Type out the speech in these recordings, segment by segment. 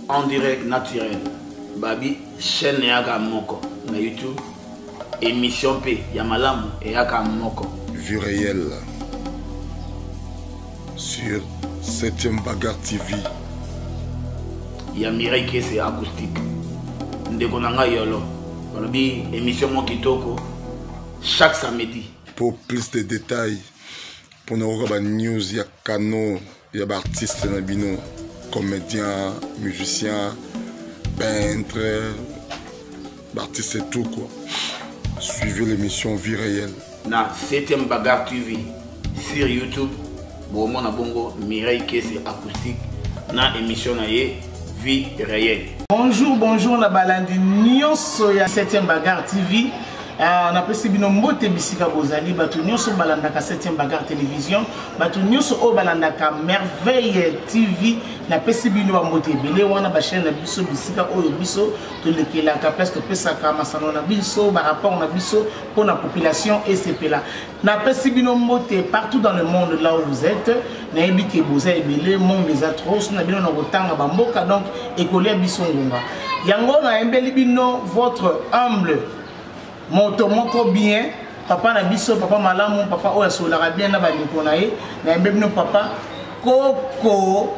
on dirait naturel babi chaîne eyaka moko na youtube émission mpe ya malamu eyaka moko vue réelle sur 7e bagarre tv ya mirai kese acoustique ndeko na ngai yolo balobi émission mwa kitoko chaque samedi pour plus de détails mpona koyoka banews ya canon ya baartiste na bino comédien musicien peintre L'artiste est tout quoi. Suivez l'émission Vie réelle. Na 7e Bagarre TV sur YouTube, bomona bongo Mireille Kese acoustique na émission na ye Vie réelle. Bonjour, bonjour na balandi nyonso ya 7e Bagarre TV. Ah, napesi bino mbote bisika bozali bato nyonso balandaka 7e bagar télévision bato nyonso oyo balandaka merveille tv napesi bino bambote ebele wana bachaine na biso bisika oyo biso tolekelaka place topesaka masano na biso barapport na biso mpo na population esepela napesi bino mbote partout dans le monde là où vous êtes nayebi ke boza ebele monde eza trop so na bino na kotanga bamboka donc ekolia biso ngonga yango nayembeli bino votre humble moto moko bien papa na biso papa malamu papa oyo asololaka bien na bandeko na ye nayembe bino papa koko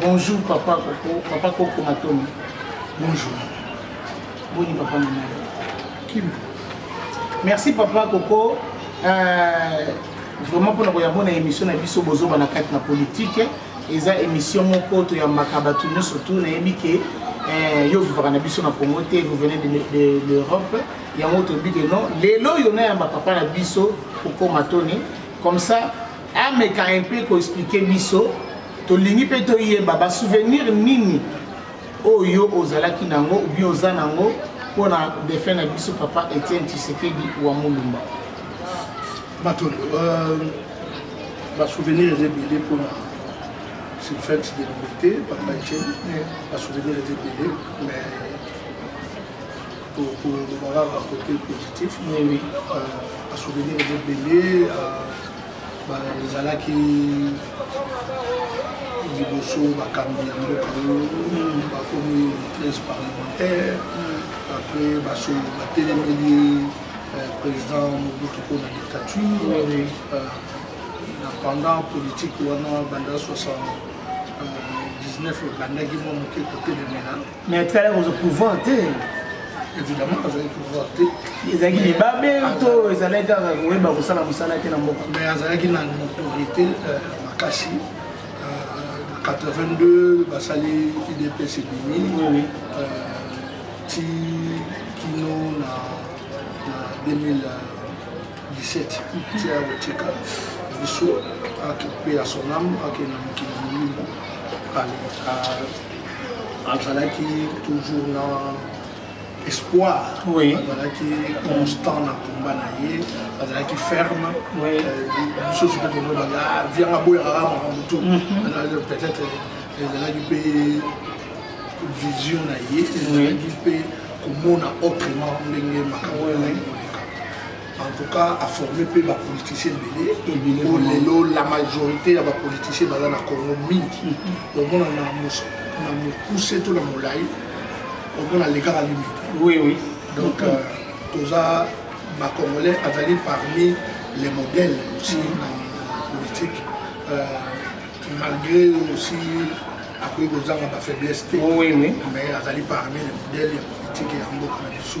Bonjour papa Koko, papa Koko Matomi. Bonjour. Boni papa Nana. Kim. Merci papa Koko. Euh, vraiment mpona koyambo na émission na biso bozoba na kati na politike eza émission moko toyambaka bato nyonso tu nayebi ke eh, yo vivaka na biso na congo te vous venez de l'europe yango toyebi ke non lelo oyo nayamba papa na biso kokoma toni comme ça ameka un peu ko expliquer biso tolingi mpe toyeba ba souvenir nini oyo ozalaki nango ou bien oza nango mpo na defunt na biso papa etienne tshisekedi wa mulumba bato euh, basouvenir eza ebele mpona c'est fête de liberté papa etienne basouvenir eza ebele mais kolobaka kaka kote positif basouvenir eza ebele bazalaki liboso bakambi ya mboka oyo bakomi 13 parlementaire après baso batelemeli euh, président mobutu mpo na dictature euh, na pendant politique wana banda 79 ebandaki mwa moke kotelemela mais atikala kozo pouvoir te évidemment azali pouvoir te ezalaki libabe to ezalaki kaka koyeba kosala mosala te na mboka mais azalaki na autorité euh, makasi 82 euh, basali idps ebimi ti kino na 2017 ti ya kotika biso ake mpe ya sonam ake na mokili molimo azalaki toujours na espoir oui. azalaki constant na combat na ye azalaki ferme lisusu mpe tolobaka vianga boyaka makambo tu peut-être ezalaki mpe vision na ye ezalaki mpe komona autrement ndenge makambo oyo en tout cas a forme mpe bapoliticien ebele o lelo la majorité ya bapoliticien baza na congo mingi mm-hmm. omona na mokuse to na molai omona alekaka limite oui oui donc euh, toza bacongolais azali parmi les modèles aussi mm-hmm. na politique euh, malgré aussi akoki kozanga bafaiblesse te mais azali parmi les modèles ya politike ya mboka na biso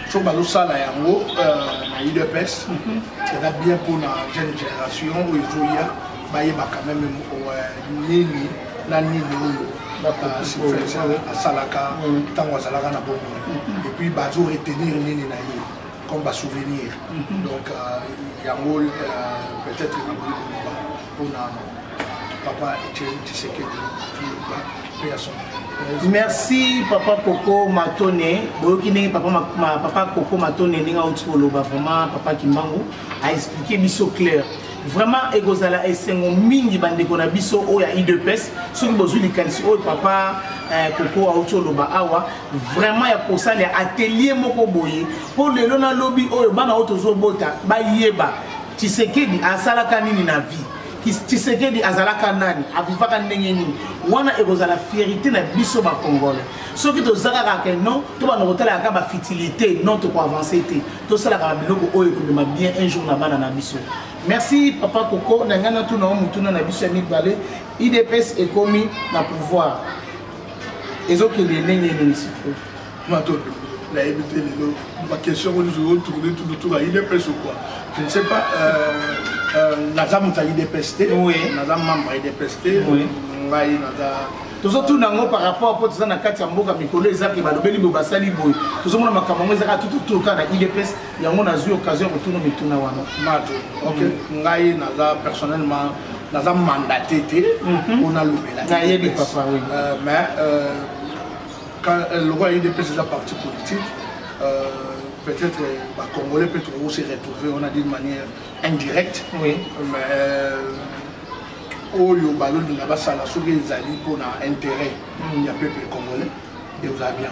so bazosala yango euh, na udps mhm. eza bien mpona jeune génération oyo ezoya bayeba quand même euh, nini na nini oyo euh, asalaka ntango mhm. azalaka na bomoi mhm. epuis bazo retenir nini na ye comme basouvenir donc yango peut-être nakoki koloba mpona papa etieni tshisekedi mpe ya son merci papa koko matone boyoki ndenge papa, ma, ma, papa koko matone ndenge auti koloba vraiment papa kimbangu aexplike biso claire vraiment ekozala esengo mingi bandeko na biso oyo ya idps soki bozwi likanisi oyo papa eh, koko auti oloba awa vraiment ya kosala ya atelier moko boye mpo lelo na lobi oyo bana oyo tozobota bayeba tshisekedi asalaka nini na vie tshisekedi azalaka nani avivaka ndenge nini wana ekozala fierité na biso bakongole soki toza kaka ke non tobanda kotalaka bafitilité non tokoavance te tosalaka biloko oyo ekomema bien un jour na bana na biso merci papa koko na ngai natuna o motuna na biso ya mibale idps ekomi na pouvoir ezokende ndenge nini sikoyo Matondo, nayebi te lelo bakestion oyo nyonso otourne tututuka udps ou quoi je ne sais pas euh, euh, naza moto ya udps te naza membre ya udps te ngai naza tozotuna yango par rapport mpo toza na kati ya mboka mikolo eza ke balobeli boye basali boye tozomona makambo yango ezaka tututur kaka na udps yango nazwi occasion ya kotuna mituna wana mato ok mm. ngai naza personnellement naza mandate te mpo mhm. nalobela nayebi papa oui euh, mais Euh, lokola udps eza parti politique euh, peut-être euh, bacongolais mpe tokoki se retrouver wana d'une manière indirecte oui. mais oyo balolinga basala soki ezali mpona intérêt mm. ya peuple congolais eoza bien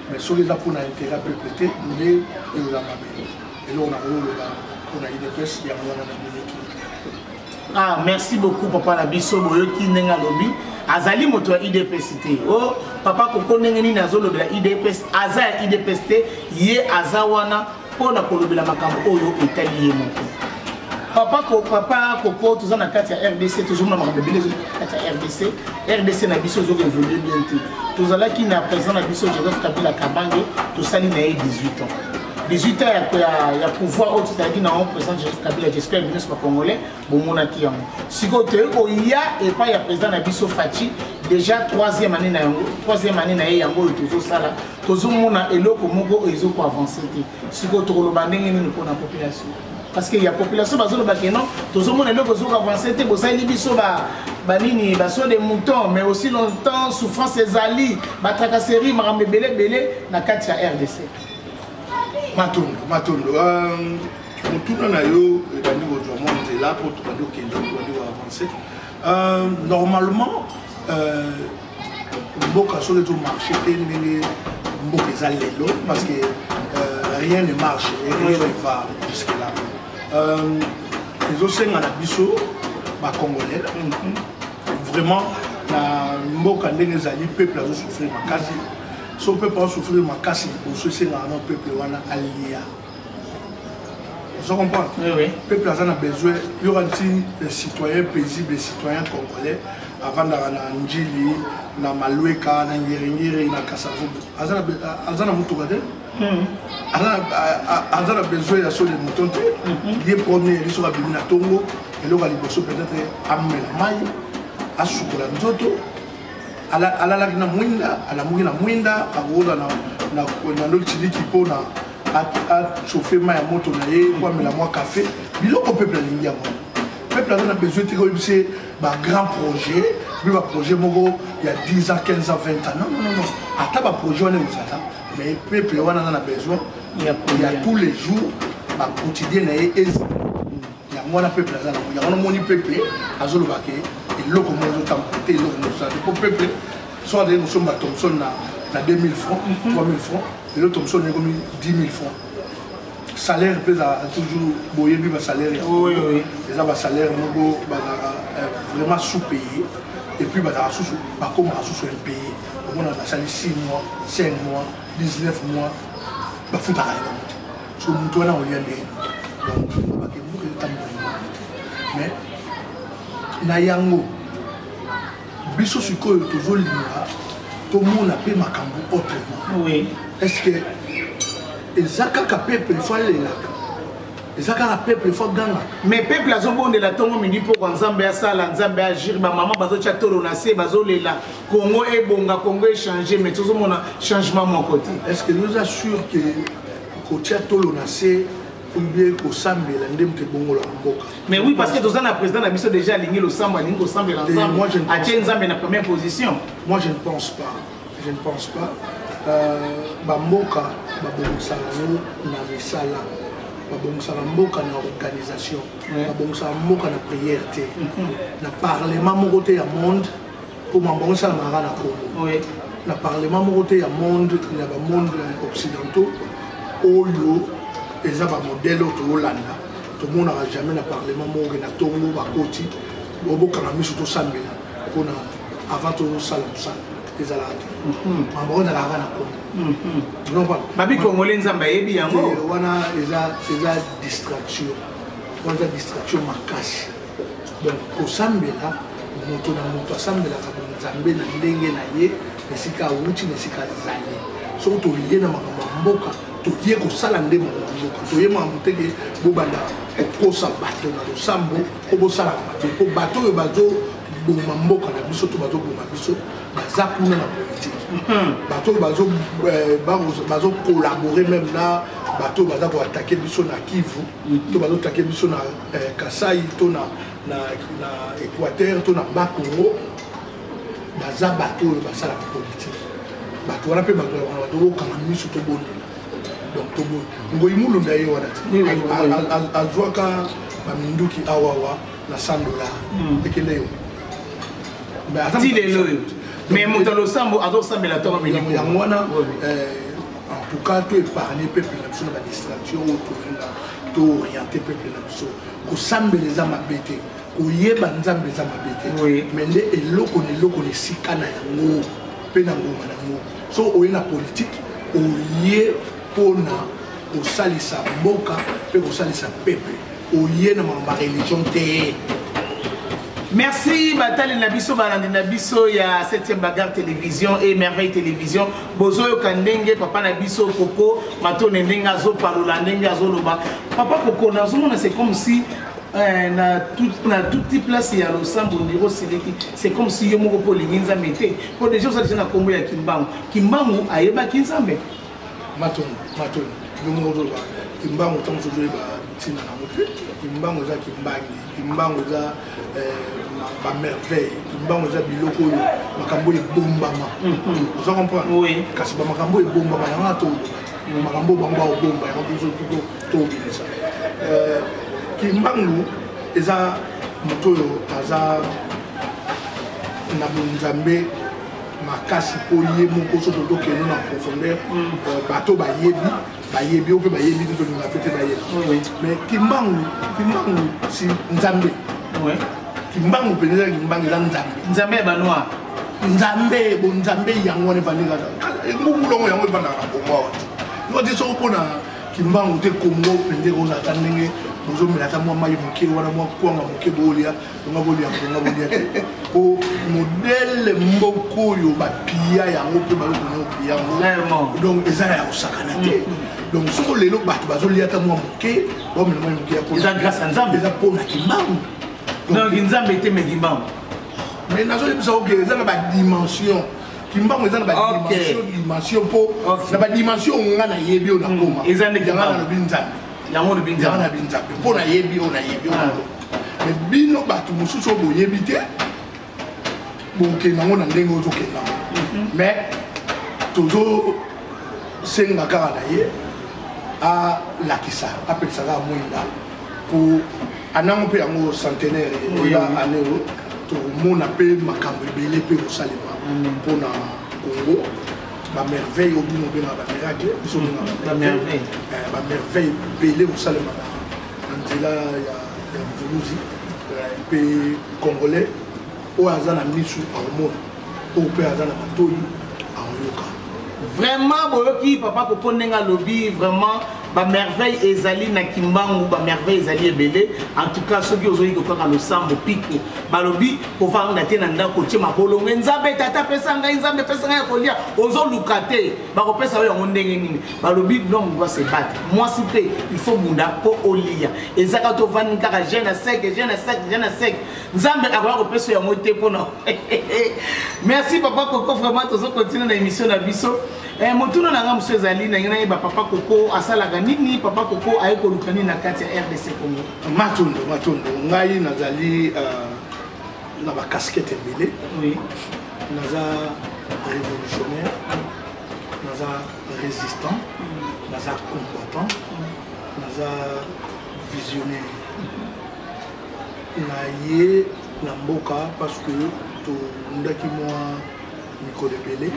mais soki eza mpona intérêt ya peuple te nde eoza mabe eloko nakoyoloba mpona udps yango wana na miniki ah merci beaucoup papa na biso boyoki ndenge alobi azali moto ya idps te o oh, papa koko ndenge nini azolobela idps aza ya idps te ye aza wana mpo na kolobela makambo oyo etali ye moko papa ko papa koko toza na kati ya rdc tozomona makambo ebele ezoli kati ya rdc rdc na biso ezoka evolue bien te tozalaki na président na biso joseph kabila kabange tosali na ye 18 ans 18 ans ya, ya, ya pouvoir oyo tozalaki na yango président joseph kabila j'espère bino nyonso bacongolais bomonaki yango sikoyo toyei koya epai ya président na biso faci déjà troisième année na yango troisième année na ye yango oyo tozosala tozomona eloko moko oyo ezokoavance te sikoyo tokoloba ndenge nini mpona population parce que ya population bazoloba ke non tozomona eloko ezokoavance te bosaleli biso ba banini baso de mouton mais aussi longtemps souffrance ezali batracasserie makambo ebele ebele na kati ya rdc matondo matondo euh, motuna na yo ebandi kozwa mwa nzela mpo tobandi okende tobandi koavance euh, normalement euh, mboka soki ezomarche te ndenge mboka eza lelo parce que rien ne marche et rien ne va jusque là ezosenga na biso bacongolais vraiment na mboka ndenge ezali peuple azosouffrir makasi so peuple asouffrir makasi liboso esengaka no peuple wana alia ozo comprendre oui, oui. peuple aza na besoin yoka nti eh, citoyen paisible citoyen congolais avandaka na njili na malweka na ngeringiri na kasavubu aza na motuka te hmm. aza na besoin ya soli moton te hmm. ye premier yeli soki abimi na ntongo eloko ya liboso peut-être amela mai asukola nzoto alalaki na mwinda alamuki na mwinda akokola na lotiliki mpona achauffe mai ya moto na ye mpo amela mwa kafe biloko peuple alingi yango peuple aza na besoin te koyebisa ye bagrand projet mpe baprojet moko ya 10 ans 15 ans 20 ans non non non ata baprojet wana ekozala mais peuple wana aza na besoin ya tous les jours baquotidien na ye ezala yango wana peuple aza nango yango namoni peuple azoloba ke eloko moko ezotambola te eloko moko ezala te mpo peuple so azali kosomba thomson na 2000 francs 3000 mhm. francs lelo thomson ekomi 10 000 francs salaire mpe ezalaka toujours boyebi basalaire ya eza basalaire moko bazalaka euh, vraiment sous payé et puis bazalaka susu bakomaka susu impayé omona basali 6 mois 5 mois 19 mois bafutaka yango so moto wana olia nde donc ebuka etambola mais na yango biso sikoyo tozolinga tomona mpe makambo autrement oui. est ce que eza kaka peuple fo alelaka eza kaka peuple fo agangaka mais peuple azobondela ntongo midi mpoko nzambe asala nzambe agire bamama bazotya tolo na se bazolela kongo ebonga kongo echange mais tozomona changement moko te est ce que noza sur que kotia tolo na se oubien kosambela nde moto ebongolaka mboka mais oui parce que toza na président na biso déjà alingi losambo alingi kosambela nzambe atie nzambe na première position moi je ne pense pas je ne pense pas euh, bamboka babongisaka yango na misala babongisaka mboka na organisation babongisaka mboka na prière te mhm. na parlement moko te ya monde mpo mambo yango esalamaka na congo na parlement moko te ya monde ya bamonde occidentaux oyo eza bamodele oyo tokolanda tomonaka jamais na parlement moko ke na tongo bakoti obokanga miso tosambela mpona avant tosala mosala ezalaka te mhm. mambo oyo ezalaka na congo mhm. babi congolais nzambe ayebi yango wana eza distraction wana eza distraction makasi donc kosambela moto na moto asambelaka bonzambe na ndenge na ye na esika awuti na esika azali soki toye na makambo ya mboka toye kosala nde makambo ya mboka toye makambo te ke bobanda kokosa bato na losambo mpo bosalaka mabe mpo bato oyo bazoboma mboka na biso to bazoboma biso baza kuna na politike mhm. bato oyo bazokolabore eh, meme na bato oyo baza koatake biso na kivu mhm. to bazoatake biso na eh, kasai to na, na, na équateur to na ba congo baza bato oyo basalaka politike bato wana mpe bato wana bato okanga miso tobondela donc toboyi ngoyi mulunda ye wana azwaka baminduki awawa na 100 dollar hmm. ekende yo ti lelo oyo mais moto ya losambo azosambela ntango yango wana eh, En tout cas, tu épargné peuple na biso na ba distraction oyo tolinga to orienter peuple na biso. Kosambela eza mabe te. Koyeba Nzambe eza mabe te. Oui. Mais nde eloko na eloko na esika na yango mpe na ngonga na yango. So oye na politique, oye mpo na kosalisa mboka mpe kosalisa peuple. Oye na makambo ya religion te. Merci batali na biso balandi na biso ya 7e bagarre télévision et merveille télévision. bozoyoka ndenge papa na biso koko matone ndenge azopalola ndenge azoloba papa koko nazomona c'est comme si eh, na toute place ya losambo ndiro osiliki c'est comme si yo moko mpo olingi nzambe te mpo deja oza deja na nkombo ya kimbangu kimbangu ayebaki nzambe matoni matoni yo moko ozoloba kimbangu ntango sozoyeba ntina nango te kimbangu eza kimbangi kimbangu eza eh, bamerveille kimbangu eza biloko oyo makambo oyo ebombama mhm. oza comprendre kasi bamakambo oyo ebombama yango na tolobaki mhm. makambo oyo bango baobomba yango biso tuto tobimisa eh, kimbangu eza moto oyo aza na bonzambe makasi mpo ye moko so totokende na profondeur mhm. eh, bato bayebi bayebi yo mpe bayebi te tolinga mpe te bayebi mais kimbangu kimbangu si nzambe kimbangu mpenza ezalaki kimbangu eza nzambe nzambe ya banoir nzambe bonzambe yango wana evandi kaka mbungulongo yango evandaka na kongo awa noti soko mpona kimbangu te kongo mpenza ekozalaka ndenge bozomela ata mwa mai moke wana mwa kwanga moke boolya tonga bolia tonga bolia te po modele moko oyo bapia yango mpe balokona opia yango donc eza na ya kosakana te mm-hmm. donc soko lelo bato bazolia ata mwa moke bamela mwa moke yaeza grâce ya nzambe eza mpo na kimbangu donc nzambe te me kimbangu mais nazoyebisa oke eza na badimension kimbangu eza na badimension dimension mpo na badimension oyo nga nayebi oyo nakoma mm, eza nde kimbangu nalobi nzambe yango olobi nzambe nabi nzambe mpo nayebi oyo nayebi oyo ah. me bino bato mosusu oyo boyebi te bokenda yango na ndenge ozokenda mhm. mais tozosenga kaka na ye alakisa apelisa kaka mwinda mpo anango mpe yango centenaire oya ane oyo tokomona mpe makambo ebele mpe kosalema mpo na congo bamerveille oyo bino obengaka bamiracle biso obengaka bamerveille ebele kosalemaka na nzela ya mvuluzi mpe congolais oyo aza na misu akomona oyo mpe aza na matoi akoyoka vraiment boyoki papa koko ndenge alobi vraiment ba merveille ezali na kimbangu ba merveille ezali ebele en tout cas soki ozoyi kokaka losambo piko balobi kovanda te na ndako otie mabolonge nzambe tata apesa ngai nzambe apesa ngai ya kolia ozoluka te bakopesa yo yango ndenge nini balobi l'homme doit se battre mwasi mpe il faut bunda mpo olia ezaka tovandi kaka jeune à sec jeune à sec jeune à sec nzambe akoya kopesa yango te mpo na merci papa koko vraiment tozo continue na émission na biso Eh, motuna na nga mosusu ezali ndenge nayeba papa koko asalaka nini papa koko aye koluka nini na kati ya rdc congo matondo matondo ngai nazali uh, na bacasquete ebele oui. naza révolutionnaire naza résistant mm. naza combattant mm. naza visionnaire naye na mboka parce que tondaki mwa mikolo ebele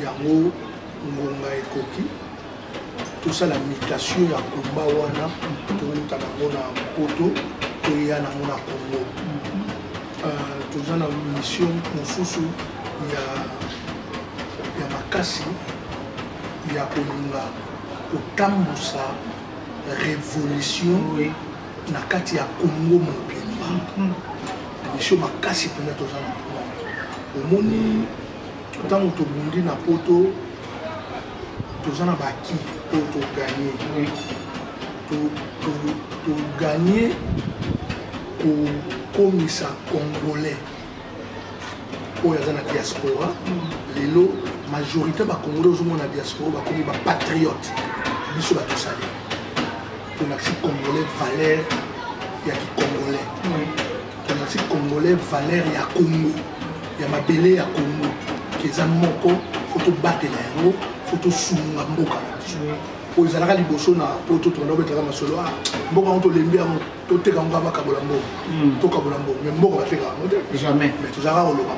yango ngonga ekoki tosala mutation ya komba wana towuta nango na poto toya nango na congo euh, toza na mission mosusu ya, ya makasi ya kolinga kotambusa révolution oui. na kati ya congo mobimba misio mhm. makasi mpenza toza na mpo omoni ntango tobundi na poto toza na baki oyo toganye toganye kokomisa congolais oyo aza na diaspora lelo majorité bacongolais ozomona na diaspora bakomi bapatriote biso batosali tolakisi congolais valeur ya kicongolais tolakisi congolais valeur ya congo ya mabele ya congo eza moko fo tobatela yango fo tosunga mboka na biso oyo ezalaka liboso na poto tokenda obetaka masolo a ah, mboka yango tolembi yango toteka ngo bakabola mbongo hmm. tokabola mbongo mais mbongo bateka yango te jamais mais tozalaka koloba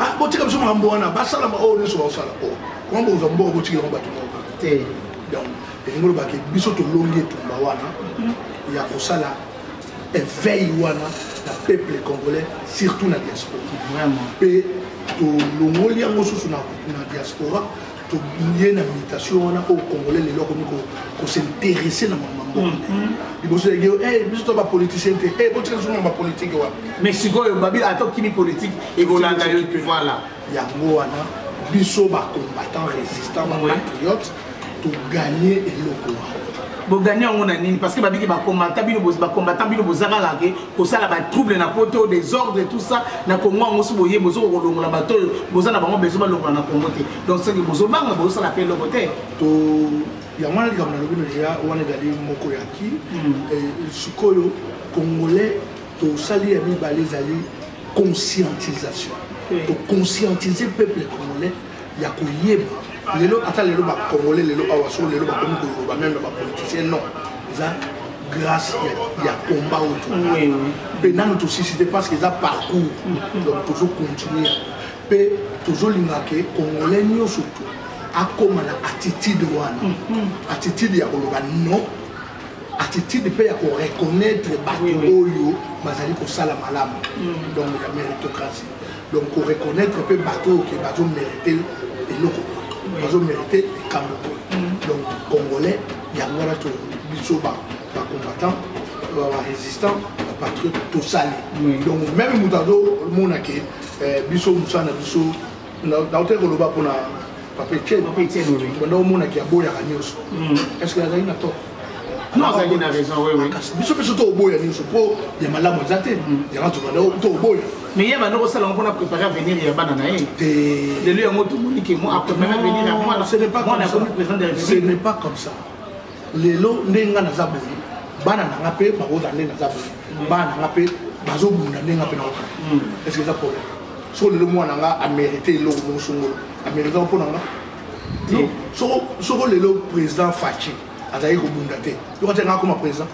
ah, botika biso makambo wana basalama oyo oh, nyonso bakosala o oh, koma bokozwa mbongo botikela ngo bato moko te donc elingi olobaki biso tolongi etumba wana ya kosala eveil wana na peuple congolais surtout na diaspora mpe tolongoli yango susu na diaspora tobiye na mutation wana oyo congolais lelo akomi kosinteresse na mama mboka mm, mm. liboso yage eh, biso to bapoliticien te eh, botika biso mama politike wana mais sikoyo babi ata okimi politike ekolanda yo te voilà yango wana biso bacombattant résistant bapatriote togagne eloko wana bogani yango na nini parce que babiki bakombata bino bakombata bino boza kaka ke kosala ba trouble na poto desordre tout ça na Congo yango si boye bozo kolongola bato oyo boza na bango besoin balongola na Congo te donc soki bozobanga bozosala mpe eloko te to yango wana likambo nalobi na deja wana ezali moko ya ki hmm. eh, sikoyo congolais tosali ya mibale ezali conscientisation toconscientise peuple congolais ya koyeba lelo ata lelo bacongolais lelo awa soko lelo bakomi koloba meme na bapoliticien non eza grâce ya combat oyo tozali mpe nanu tosisi te parce que eza parcours mm-hmm. donc tozo continue mpe tozolinga ke congolais nyonso tu akóma na attitude wana mm-hmm. attitude ya koloba non attitude mpe ya koreconnaitre bato oyo bazali kosala malamu mm. donc ya méritocratie donc koreconnaitre mpe bato oyo ke bazomérite eloko boye bazomérite likambo boye mm. donc congolais yango wana to biso bacombattant barésistant bapatriote tosali donc meme moto azomona ke eh, biso mosala na biso nautaki koloba mpona papa etienebanda omonaki aboyaka nyonso estce azali na to kasi biso biso tooboya nyonso mpo ya malamu eza te yanga tobanda tooboya mais ye banda kosala yango mpona prépare avenir ya bana na ye lelo yango tomoni ke mo aprépare avenir ya mwana akomi président de la république ce n'est pas comme ça lelo ndenge nga naza boye bana na nga mpe bakozala ndenge naza boye mm. bana na nga mpe bazobunda ndenge nga mpe naokana mm. eske eza problème soko lelo mwana nga amérite eloko moko songolo amérite mpo na nga soko lelo président faci azalaki kobunda te yo kati yanga akoma président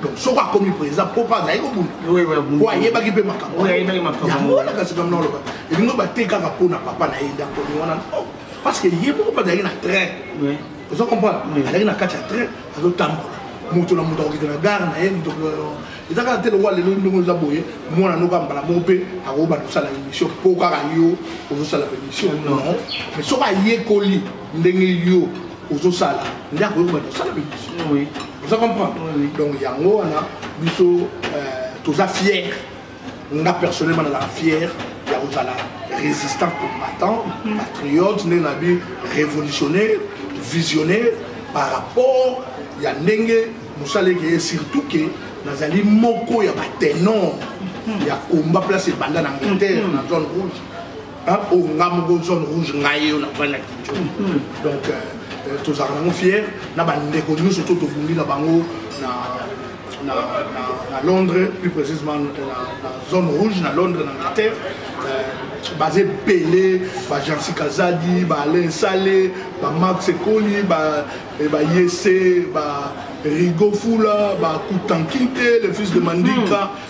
donc soko akomi président mpo mpe azalaki kobunda mpo ayebaki mpe makambo yango wana kasi kamna oloba elingo bate kaka mpo na papa na ye ndako wana parce que ye moko mpe azalaki na train ozo comprendre azalaki na kati ya train azotambola moto na moto akokita na gare na ye moto eza kaka te lokola lelo ndenge oza boye mwana noko ya mbala moko mpe akoba kosala émission mpo kaka yo ozosala émission non mais soki ayekoli ndenge yo ozosala nde akoki kobanda kosala émission oza comprendre donc yango wana biso euh, toza fiere nga personnellement nazala fier ya kozala résistant combattant mhm. patriote ndenge na bi révolutionnaire visionnaire par rapport ya ndenge mosala ekeye surtout ke nazali moko ya batenor mhm. ya combat place ebanda na angleterre na zone rouge Hein? Oh, nga moko zone rouge ngai yo navandi na kinjo mhm. donc euh, euh, tozalaka nango fier na bandeko nyonso to tobundi na bango na na, na, na londres plus précisément na, na zone rouge na londres na angleterre euh, baza ebele bajansi kazadi baalain sale bamax ekoli bayese ba, eh, ba rigo fula bakutankinte le fils de mandika mm.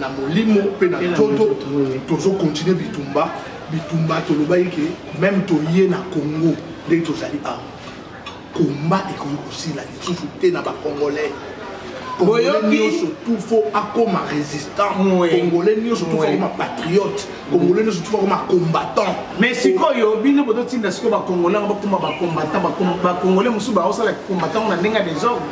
na molimo mpe na nzoto tozokontinue bitumba bitumba tolobaki ke meme toye na congo ndenge tozali awa komba ekoki kosila lisusu te na bacongolais congolais nyonso tufo akoma résistant congolais nyonso tufo akoma patriote congolais nyonso tufo akoma combattant mais sikoyo bino bozotinda sikoyo bacongolais bakoma bacombattant bacongolais mosusu baosala combattant na ndenge ya desordre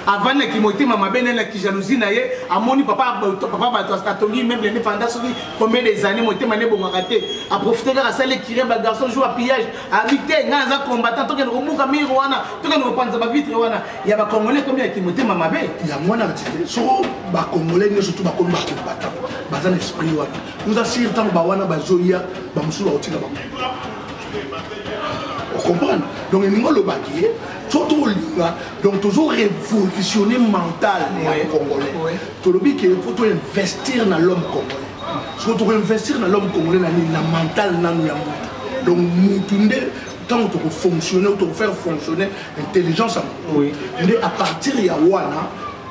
avandi na kimotema mabe naye na kijalousie na ye amoni papa papa bato atongi meuble ne panda soki combien des années motema ne ebongaka te aprofite kaka asali ekire ba garçon jour ya pillage abi te ngai aza combattant tokende kobuka mire wana tokende kopanza bavitre wana ya bacongolais komi ya kimotema mabe yango wana soko bacongolais nyonso tu bakomi bacombattant baza na esprit wana oza sire ntango bawana bazoya bamosusu bakotika bango okomprendre donc elingi olobaki ye so tolinga donc tozo révolutionner mental ya congolais tolobi ke faut toinvestir na l'homme congolais soki tokoinvestir na l'homme congolais na nini na mental nanu ya moto donc mutu nde ntango tokofonctionne ou tokofaire fonctionner intelligence ya moto nde à partir ya wana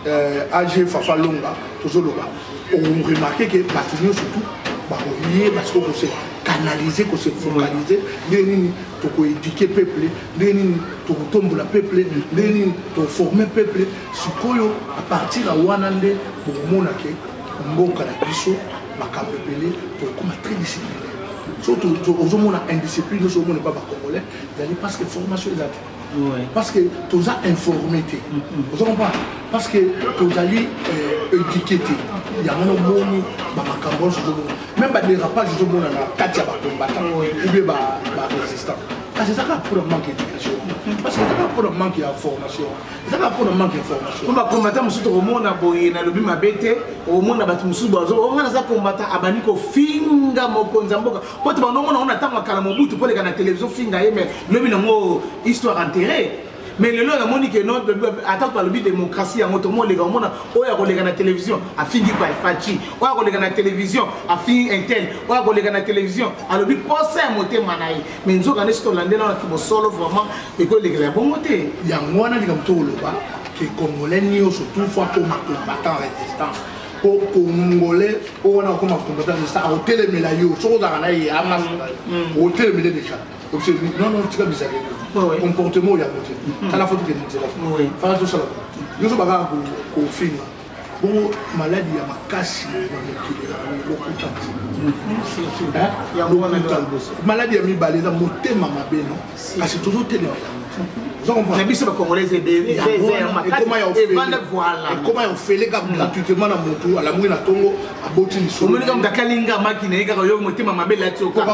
euh, age fafa longa tozoloba oremarke ke bato nyonso tu bakoyeba sikoyo kose canaliser kose focaliser ndenge nini toko éduquer peuple ndenge nini tokotombola peuple ndenge nini toforme peuple sikoyo à partir ya wana nde bokomona ke mboka na biso makambo ebele tokokoma très discipline soki ozomona indiscipline nyonso omona epa bacongolais ezali parce que formation ezali parce que toza informé te oza comprendre parce que tozali euh, éduqué te yango nomoni bamakambo nyonso tozomona même badérapage tozomona na kati ya bakombata oubie barésistant kasi eza kaka mpona manque éducation parce que eza kaka mpona manque ya formation eza kaka mpona manque ya formation po bakombata mosusu tokomona boye nalobi mabe te omona bato mosusu bazo onga naza kombata abandi kofinga mokonzi ya mboka po te bando omona ngo na ntango ya kala mobutu mpo leka na televizio finga ye mai lobi nango histoire enterre mais lelo namoni ke no ata to alobi démocratie yango tomoleka omona oyo akoleka na télévision afingi paifaci oyo akoleka na télévision afingi intel oyo akoleka na télévision alobi posa ya motema na ye mais nzoka nde soki tolandela wana kibosolo vraiment ekoyelekela ya bongo te yango wana likambo tokoloba ke congolais nyonso tout fois akoma combattant résistant po congolais oyo wana akoma combattant de star otelemela yo soki ozalaka na ye anga otelemele deja obise non non tika bizali comportement oyo yango te tala fo tokende nzela fana tosala nyonso bakaka kofinga bongo maladi ya makasi na mokili lokuta lokuta maladi ya mibale eza motema mabe no kasi tozotelemela na biso bacongolais ebele ekoma ya ofele kaka hmm. gratuitement na motu alamuki na ntongo aboti lisoloomoni kaka moto akalinga maki na ye kaka yo motema mabe lati okoka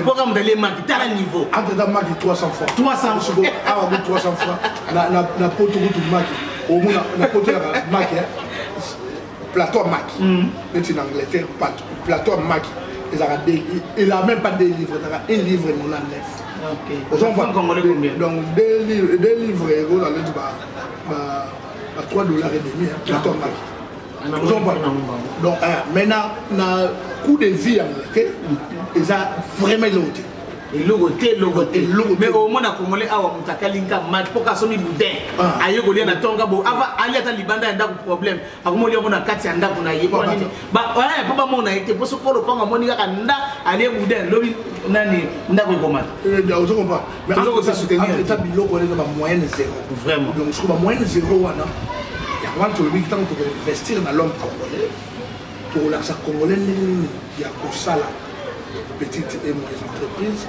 moto alie maki tala niveau entata maki 300 francs 300 soko awa ko 300 francs na poto kutu maki omona na poto yaka maki plateau ya maki mm. neti na angleterre plateau ya maki ezalaka elaa même pas deux livre ezalaka un livre nona nef donc deux livre ekozala neti ba 3 dollars et demi plateau ya maki ozomba donc mais na coût de vie ya moke eza vraiment eloko te eloko te eloko te mais omona congolais awa moto akali nka mate mpo kasomi boudin ah. aye kolia na tonga bo ava ali ata libanda ya ndako problème akomoli yango na kati ya ndako na ye mpo eh, bamona ye te mpo soki olopango amoni kaka nda alie boudin lobi nani ndako ekomata eh, biloko wana eza bamoyenne zéro vraiment donc soki bamoyenne zéro wana yango wana tolobi ntango tokoinvestir na l'homme congolais tokolakisa congolais ndenge nini ya kosala petite et moyenne entreprise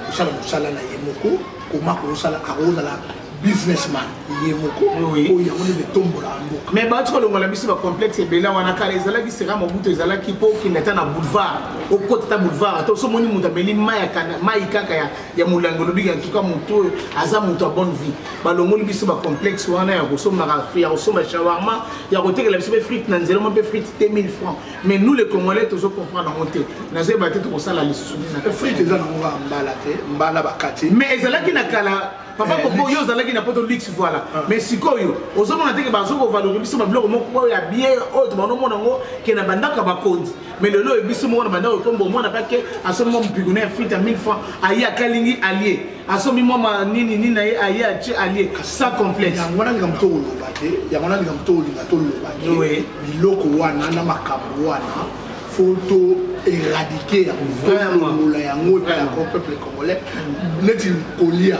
kosala mosala na ye moko koma kosala akozala businessman ye moko oyo yango nde etombola mboka mais bato kolongola biso bacomplexe ebele wana kala ezalaki sera mobutu ezalaki mpo okende ata na boulevard okota ata boulevard ata osomoni moto ameli mai kaka ya ya molangi olobiki antuka moto oyo aza moto ya bonne vie balongoli biso bacomplexe wana ya kosombaka ya kosomba shawarma ya kotekela biso mpe frite na nzela mo mpe frite te 1000 francs mais nous le congolais tozo comprendre yango te nazoyeba te tokosala lisusu frite eza nango kaka mbala te mbala bakati mais ezalaki na kala papa eh, koko yo ozalaki na poto luxe voilà ah. mais sikoyo ozomona te ke bazokovalori biso babiloko moko oyo ya bien oyo tobanomona yango ke na bandako ya bakonzi mais lelo oyo biso moko na banda okombo omwana pake asombi mwa mopiko na ya frite ya 1000 franc aye akalingi alie asombi mwa manini nini na ye aye atie alie sans complexe yango wana likambo to koloba te yango wana likambo to kolinga toloba te biloko wana na makambo wana fo to éradiquer yango tolongola yango epai ya peuple congolais neti kolia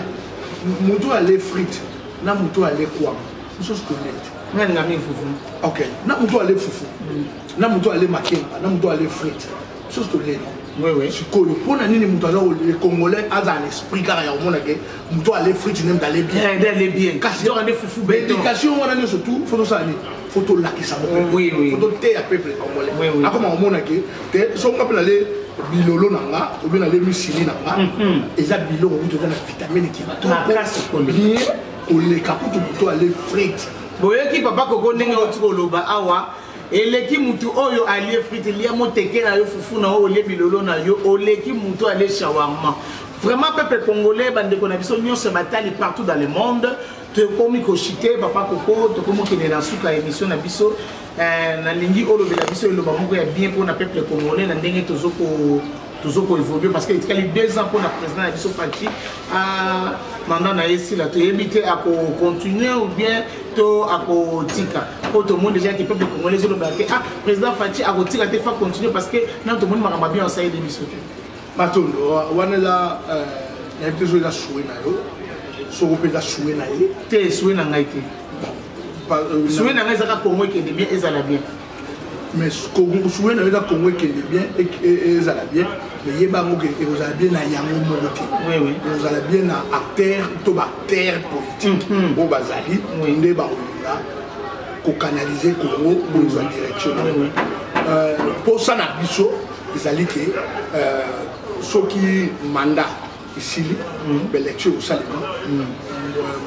moto oyo ale frite na moto oyo ale kwama mosusu kolia te nani ngamii fufu ok na moto oyo ale fufu mm. na moto oyo ale makemba na moto oyo ale frite biso tolela sikoyo mpo na nini moto aza le congolais aza na esprit kaka ya komona ke moto ale frite nde moto ale bien kasi éducation wana nyonso tu fo tosala nini fo tolakisa moko fo toteya peuple congolais akoma komona ke te so nga mpe nale bilolo na nga obi nale misili na nga mhm. eza biloko kutu eza na vitamine kitoko bien koleka kutu moto ale frite boyoki papa koko ndenge oti koloba awa eleki mutu oyo alie frite lia moteke na yo fufu na yo olie bilolo na yo oleki mutu alie shawarma vraiment peuple congolais bandeko na biso nyonso batali partout dans le monde tokomi koshite papa koko tokomi okende na suka ya émission na biso eh, nalingi olobela biso eloba moko ya bien mpona peuple congolais na ndenge tozo tozo ko évoluer parce que etikali deux ans mpona président na biso fati ah, mandat na ye esila toyebi te akocontinue ou bien to akotika mpo tomoni déjà ke peuple congolais ezolobela te ah président fati akotika te fa continue parce que nano tomoni makambo bien osaleli biso te matondo wana eza euh, nayebi te soki eza sue na yo soko mpe eza sue na ye te sue na ngai te euh, sue na ngai ezaka kongo ekende bien ezala bien mais souwe na yoka congo ekende bien ezala bien mais yeba yango ke ekozala bien na yango moko te ekozala bien na acteur to baacteur politique oyo mm-hmm. bazali nde bakolinga kokanalize congo kozwa mm-hmm. direction euh, mposa na biso ezali ke euh, soki mandat esili mm-hmm. baelection ekosalema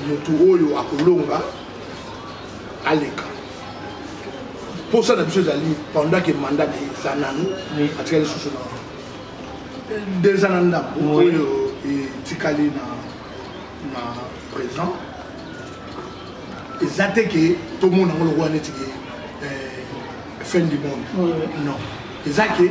motu oyo akolonga aleka mposa na biso ezali pendant ke mandat na ye eza nanu atika lisusu na deux ans na ndambo oyo etikali na na présent eza te ke tomona yango lokola neti ke fin du monde non eza ke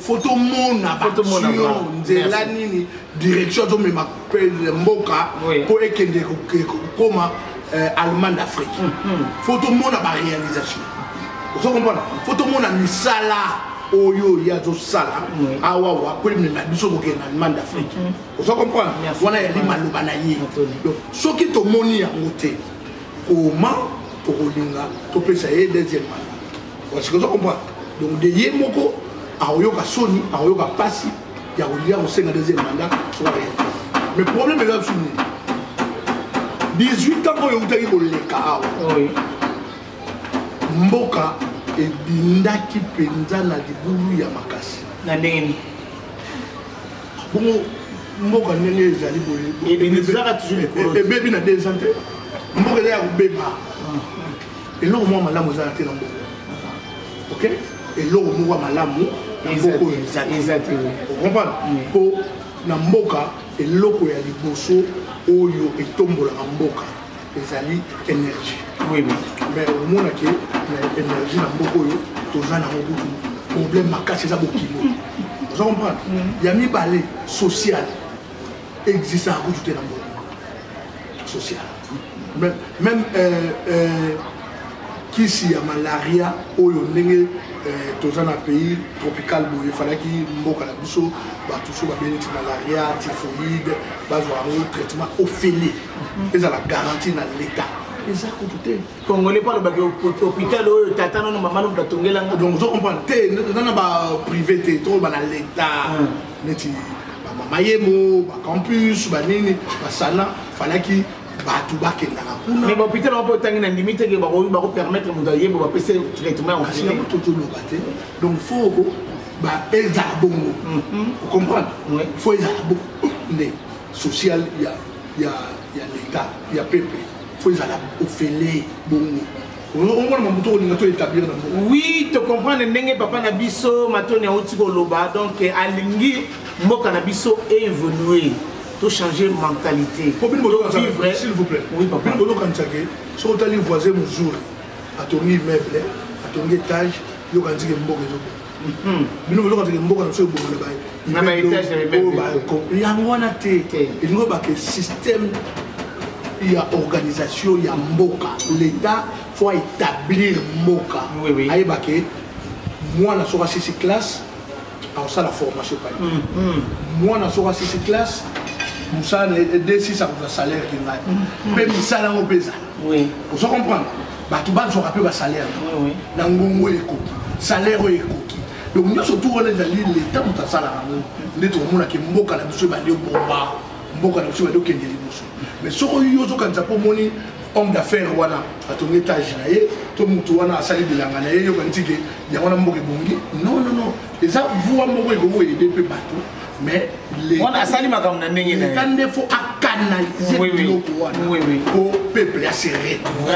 fo tomona baction nzela nini direction azomema mboka mpo ekende kokoma euh, allemagne d'afrique mhm. fo tomona baréalisation ozo comprendre fo tomona misala oyo ye azosala awa wakolimema biso kokende na allemagne d'afrique mhm. ozo comprendre wana yali maloba na ye donc soki tomoni yango te koma tokolinga topesa ye deuxième mandat Parce que tu comprends. Donc de ye moko akoyoka soni, akoyoka pasi ya kolia kosenga deuxième mandat sur la réalité. Mais problème eza biso nini? 18 ans oyo eutaki koleka awa. Mboka ebindaki mpenza na libulu ya makasi. Na ndenge nini? Bongo mboka ndenge ezali boye ebebi na deux ans te mboka eza ya kobeba ah. eloko moko malamu ezala te na mboko ok eloko moko ya malamu na mboko oyo eza te okomprendre mpo na mboka eloko ya liboso oyo etombolaka mboka ezali énergie oui, mais omonake na énergie na mboka oyo toza nango kutu problème makasi eza bokilo oza comprendre ya mibale sociale existaka kutu te na mboka social même, même euh, euh, kisi ya malaria oyo ndenge euh, toza na pays tropical boye efalaki mboka na biso bato so babeli ti malaria typhoïde bazwa yango traitement ofele ezala garantie na leta eza kutu te congolais mpo alobaki hôpital oyo tata nono mama nono batongela nga donc ozo comprendre te eza na baprivé te toloba na l'état hmm. neti bamama yemo bacampus banini basana falaki bato bakendaka kuna mais bahôpital yango mpo otangi na ndimi teke bakopermettre moto ayebo bapesa traitement yango totoloba te donc foko ezala bongo mhm. ocomprendre fo ezala bongo nde social ya l'état ya pepe faut ezala ofele bongo omona mamu to olinga to établir na mboka oui to comprendre ndenge papa na biso matoni auti koloba donc eh, alingi mboka na biso évolue to changer mentalité po bino bozokavivre s'il vous plaît oui papa bino bozokanisake soki otali voisin mozuri atongi immeuble atongi étage yokanzike mboka ezobonga Hmm. bino bozoka teke mboka na biso ebonga na baetage yango wana te elingi obake système ya organisation ya mboka l'état faut établir mboka ayeba ke mwana soki asisi classe akosala formation epai hmm, hmm. mwana soki asisi classe mosala na ye desisa kozwa salaire kingai mpe misala yango mpe ezala ozo comprendre bato bazwaka mpe basalaire na ngongo oyo ekoki salaire oyo ekoki donc nyonso tu wana ezali leta moto asalaka yango nde tokomonaka mboka na biso ebandi obomba mboka na biso ebandi okende liboso mais soko yo ozokanisa mpo omoni homme d'affaires wana atongi etage na ye to motu wana asali bilanga na ye yokanisi ke yango wana mboka ebongi non non non eza voi moko ekoki koyede mpe bato mais wana asali makambo na ndenge na ye nde fo akanalize biloko wana po peuple ase retrouve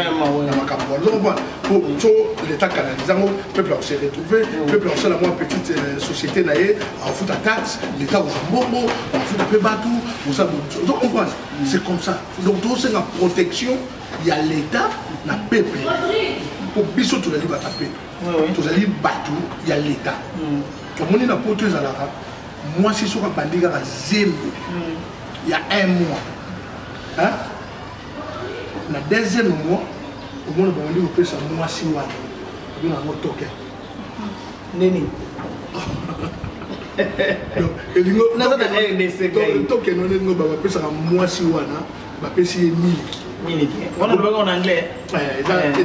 na makambo wana donc wana po so leta kanalize yango peuple akose retrouve peuple akosala mwa petite euh, société na ye akofuta taxe leta akozwa mbongo akofuta mpe bato osala donc comprendre c'est comme ça donc tosenga protection ya leta na peuple po biso tozali bata peuple tozali bato ya leta mm. tomoni na poto ezalaka mwasi soki abandi kaka zembo mm. ya un mois na deuxième mois omona bamoni kopesa mwasi wana bino yango toke nini elingo tokeno ndenge bapesaka mwasi wana bapesi ye miliki miliki wana lobaka en anglais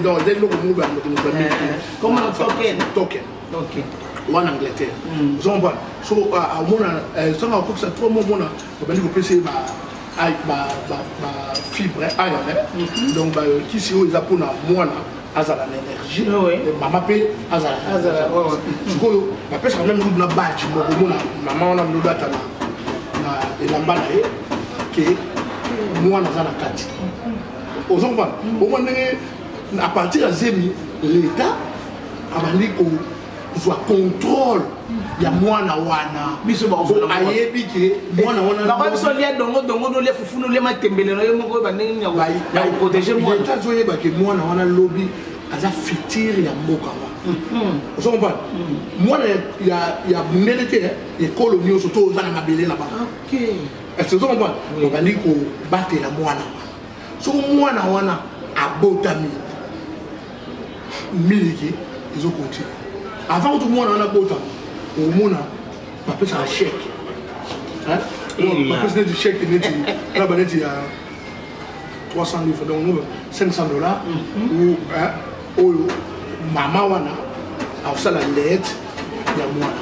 donc eza eloko moko ba moto moto miliki comme token token okay wana angleterre ozo comprendre so omona sanga akokisa trop mo omona babandi kopesa ye ba fibre iron donc bakisi oyo eza mpona mwana azala na énergie ah mama mpe azala sikoyo bapesaka meme ludu na badge moko omona mama wana ludu ata na elamba na ye ke mwana aza na kati ozo komana omwa ndenge à partir ya zemi l'état abandi ko zwa contrôle ya mwana wana biso ayebi ke mwana wanabango biso lia dongo dongo nolia fufu nolia matembele na yo moko oyo bandenge nini ya koprotege mwana azoyeba ke mwana wana lobi aza futur ya mboka wana mm-hmm. ozo comprendre mm-hmm. mwana ya bundele te eh, ekolo nyonso to oza na mabele na bango est-ce ozo comprendre obandi kobatela mwana wana soko mwana wana abotami miliki ezo continue avant kutu mwana wana bota omona bapesaka chèque bapesi neti chèque neti na baneti ya 300 livre donc 500 dollars mm-hmm. oyo mama wana akosala lete ya mwana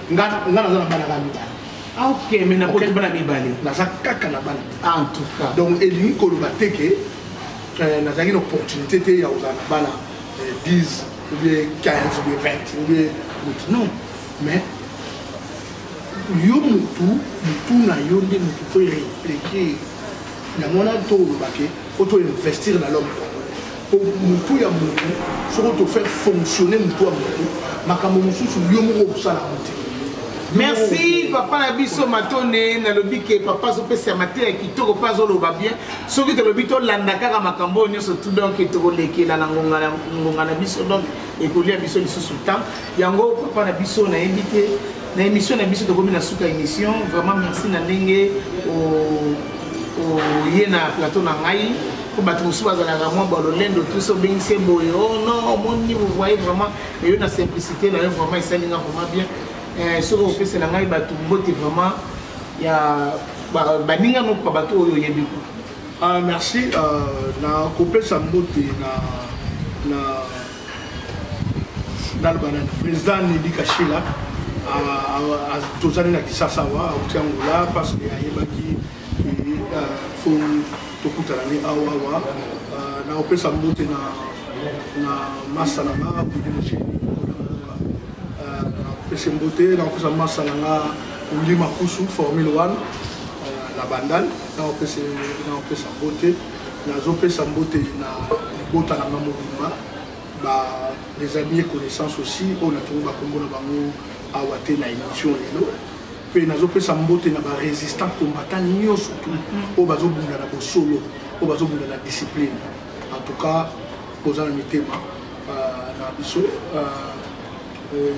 nga nga naza na bana kaka mibale ah, ok mais na koti bana mibale naza kaka na bana ah, en tout cas donc elingi koloba te ke euh, nazalaki na opportunité te ya kozala na bana 10 euh, ou bien 15 ou bien 20 ou bien motu non mais yo motu motu na yo nde motu fo réfléchir yango wana to oloba ke faut to investir na l'homme po mutu ya mutu soko to faire fonctionner mutu ya mutu makambo mosusu yo moko okosala yango te merci papa na biso matone nalobi ke papa azopesa mateya kitoko mpe azoloba bien soki tolobi tolanda kaka makambo oyo nyonso tu donc tokolekela na ngonga na biso donc ekolia biso lisusu temps yango papa na biso nayebi te na émission na biso tokomi na suka émission vraiment merci na ndenge oye na plateau na ngai po bato mosusu bazalaka mwa balolendo tuso obengisi ye boye o oh non omoni vous voyez vraiment eyo na simplicité na yo vraiment esali nga vraiment bien eh, soki okopesela ngai bato mbote vraiment ya baninga nokuka bato oyo oyebi ko ah, merci euh, na kopesa mbote na naloba na président nedi kashila tozali na kisasa awa auti angola parce que ayebaki fo tokutana ne awa awa na kopesa mbote na na masa na nga kude mosheni nakopesa mbote na kopesa masa na nga wili makusu formule 1 na bandal na kopesa mbote Nazopesa mbote na libota na nga mobimba ba les amis et connaissances aussi oyo natongi bakombo na bango awa te na émission lelo mpe nazopesa mbote na barésistant combattant nyonso tu oyo bazobunda na bosolo oyo bazobunda na discipline en tout cas boza na mitema euh, na biso euh, euh,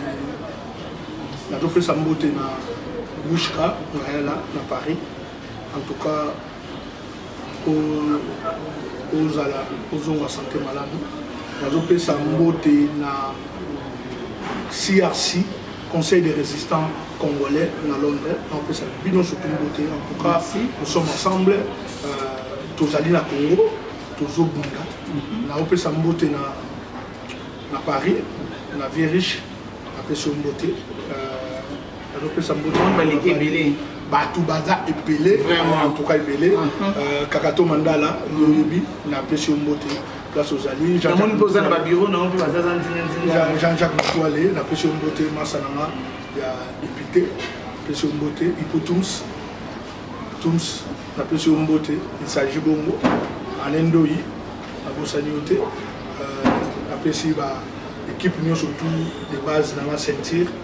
nazopesa mbote na bushka ngayala na paris en tout cas ozala ozonga sante malamu nazopesa mbote na crc conseil des résistants congolais na londres naopesa bino surtout mbote en tout cas nous sommes ensemble euh, tozali na congo tozobunda mhm. naopesa mbote na, na paris na vie riche napesi yo mbote euh, azopesa mbote baleki ebele bato baza ebele antuka ebele mhm. euh, kakato mandala loyebi napesi yo mbote place ozali jean-jacques matoile napesi yo mbote masa na nga ya député napesi yo mbote ipo tums tums napesi yo mbote isagi bongo anendoi nabosani yo te euh, napesi ba équipe nyonso tout de base na nga ceinture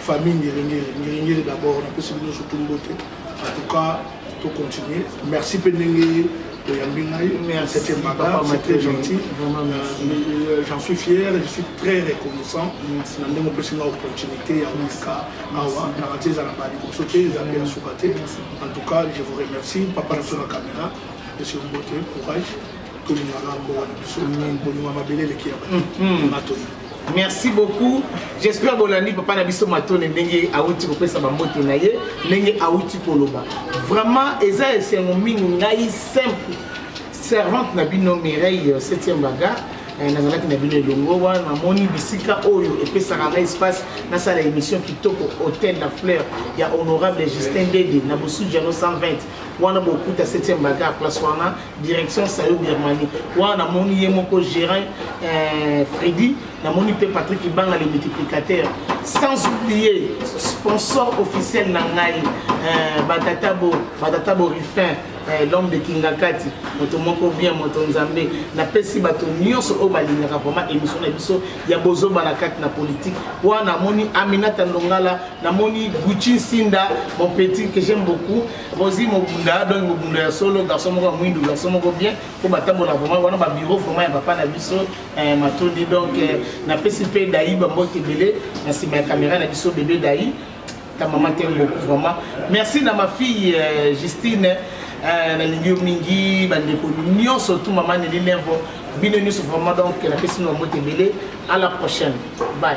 famille ngeringeri ngeringeri d'abord napesi bino surtout mbote en tout cas to continuer merci mpe ndenge oyambi ngai c'était mbaga c'était gentil euh, j'en suis fier je suis très reconnaissant na ndenge opesi nga opportunité ya koleka awa naka te eza na ba liboso te eza mpe ya suka te en tout cas je vous remercie papa na biso na caméra apesi yo mbote courage tolingaka mboka na biso mingi bolinga mabele eleki ya bato mm-hmm. matoi merci beaucoup j'espère bolandi papa na biso matone ndenge awuti kopesa bambote na ye ndenge awuti koloba vraiment eza esengo mingi ngai simple servante na bino mireille 7e euh, baga euh, nazalaki na bino elongo wana namoni bisika oyo epesaka ngai espace nasala émission kitoko hôtel la fleur ya honorable justin dede na bosudiano 120 wana bokuta 7e baga place wana direction sayo birmanie wana namoni ye moko gérant euh, fredi namoni mpe patrick ibanga le multiplicateur sans oublier sponsor officiel na ngai euh, batatabo batatabo rifin eh, l'homme de kingakati moto moko bien moto nzambe napesi bato nyonso oyo balingaka vraimen émission na biso ya bozoba na kati na politike wana namoni aminata ndongala namoni gucci nsinda mon petit que j'aime beaucoup Rosie Mobunda donc Mobunda ya solo garçon moko ya mwindu garçon moko bien mpo batambola vraiment wana ba bureau vraiment ya papa na biso eh, matondi donc eh, napesi mpe dai bambote ebele na nsima ya kamera na biso bebe dai ta mama te beaucoup vraiment merci na ma fille eh, Justine eh, nalingi yo mingi bandeko nyonso tu mama neli levo bino nyonso vraiment donc napesi bino bambote ebele à la prochaine bye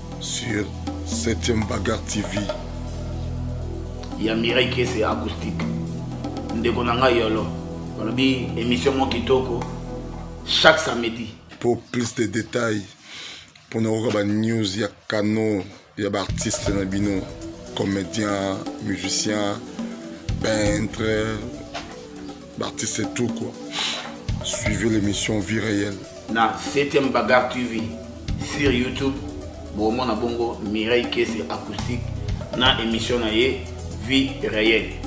sur 7e bagarre tv ya mirai kese acoustique ndeko na ngai yolo balobi émission mwa kitoko chaque samedi pour plus de détails mpona koyoka banews ya canon ya baartiste na bino comédien musicien peintre L'artiste c'est tout quoi. Suivez l'émission Vie réelle. Na 7e Bagarre TV sur YouTube, Bomona Bongo, Mireille Kese Acoustique, na émission na ye Vie réelle.